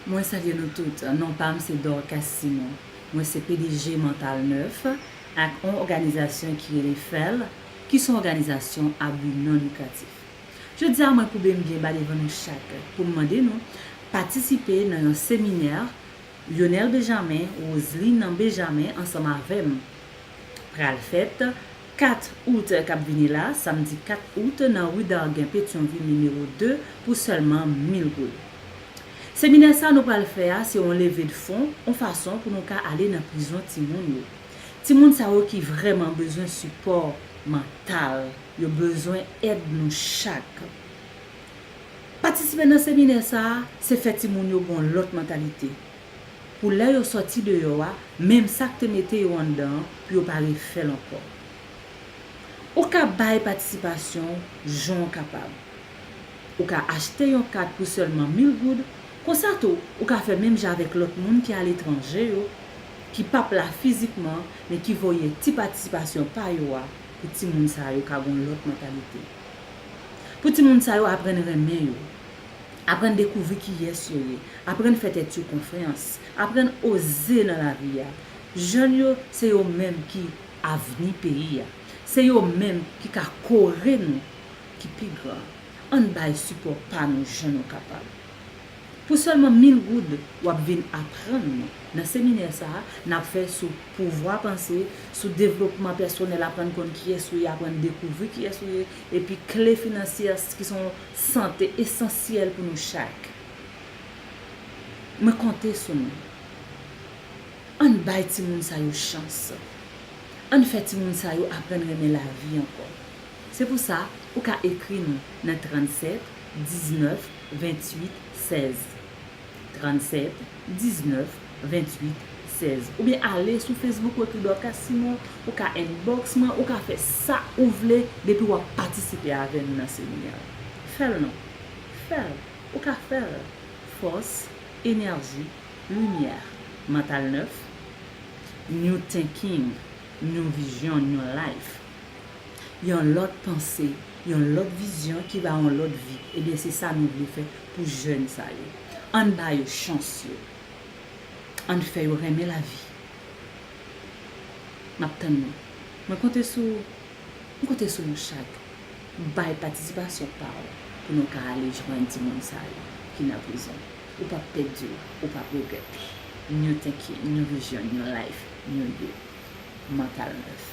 Mwen salye nou tout, non pa m se Dorcas Simon. Mwen se pdg Mantal Nèf ak on òganizasyon ki rele FEL ki son òganizasyon a bi non likratif. Jodi a mwen koube m byen ba devan nou chak pou m mande nou patisipe nan yon seminè Lyonel Bejamen, Roseline Bejamen ansanm avè m pral fèt 4 out k ap vini la, samdi 4 out, nan ri Dargen Petyonvil nimewo 2, pou sèlman 1000 goud. Seminè sa nou pral fè a se on leve de fon, on fason pou nou ka ale nan prizon timoun yo. Timoun sa yo ki vrèman bezwen sipò mantal. Yo bezwen èd nou chak. Patisipe nan seminè sa a, se fè timoun yo gen on lòt mantalite. pou lè yo sòti deyò a, menm sa k te mete yo anndan an, pou yo pa refè l ankò. Ou ka bay patisipasyon w jan w kapab. Ou ka achte yon kat pou sèlman mil goud, konsa tou ou ka fè menm jan avèk lòt moun ki aletranje yo, ki p ap la fizikman men ki voye ti patisipasyon pa yo a pou timoun sa yo ka gen yon lòt mantalite. Pou timoun sa yo aprann renmen yo. Aprann dekouvri kiyès yo ye. Aprann fè tèt yo konfyans. Aprann oze nan lavi a. Jèn yo, se yo menm ki avni peyi a. Se yo menm ki ka kore nou ki pi gran. Ann bay sipò pa nou jan nou kapab. Pou sèlman mil goud, w ap vin aprann nou, nan seminè sa a, n ap fè sou pouvwa panse, sou devlopman pèsonèl aprann konn kiyès ou ye, aprann dekouvri kiyès ou ye, epi kle finansyè ki se yon Sante esansyèl pou nou chak. Mwen konte sou nou. Ann bay timoun sa yo chans. Ann fè timoun sa yo aprann renmen lavi ankò. Se pou sa, ou ka ekri nou nan 37 19 28 16. 37 19 28 16 oubyen ale sou Facebook Wetly Dorcas sinon ou ka inbox mwen ou ka fè sa ou vle depi wap patisipe avè nou nan seminè a fèl non fèl ou ka fèl fòs enèji limyè mantal nèf new thinking new vision new life. yon lòt panse, yon lòt vizyon ki ba yon lòt vi, ebyen se sa nou vle fè pou jèn sa yo. Ann ba yo chans yo. Ann fè yo renmen lavi. M ap tann nou. Mwen konte sou ou. M konte sou nou chak. Bay patisipasyon pa w pou nou ka ale jwenn timoun sa yo ki nan prizon. Ou p ap pèdi l. Ou p ap regrèt. New thinking, new vision, new life, new you. Mantal nèf.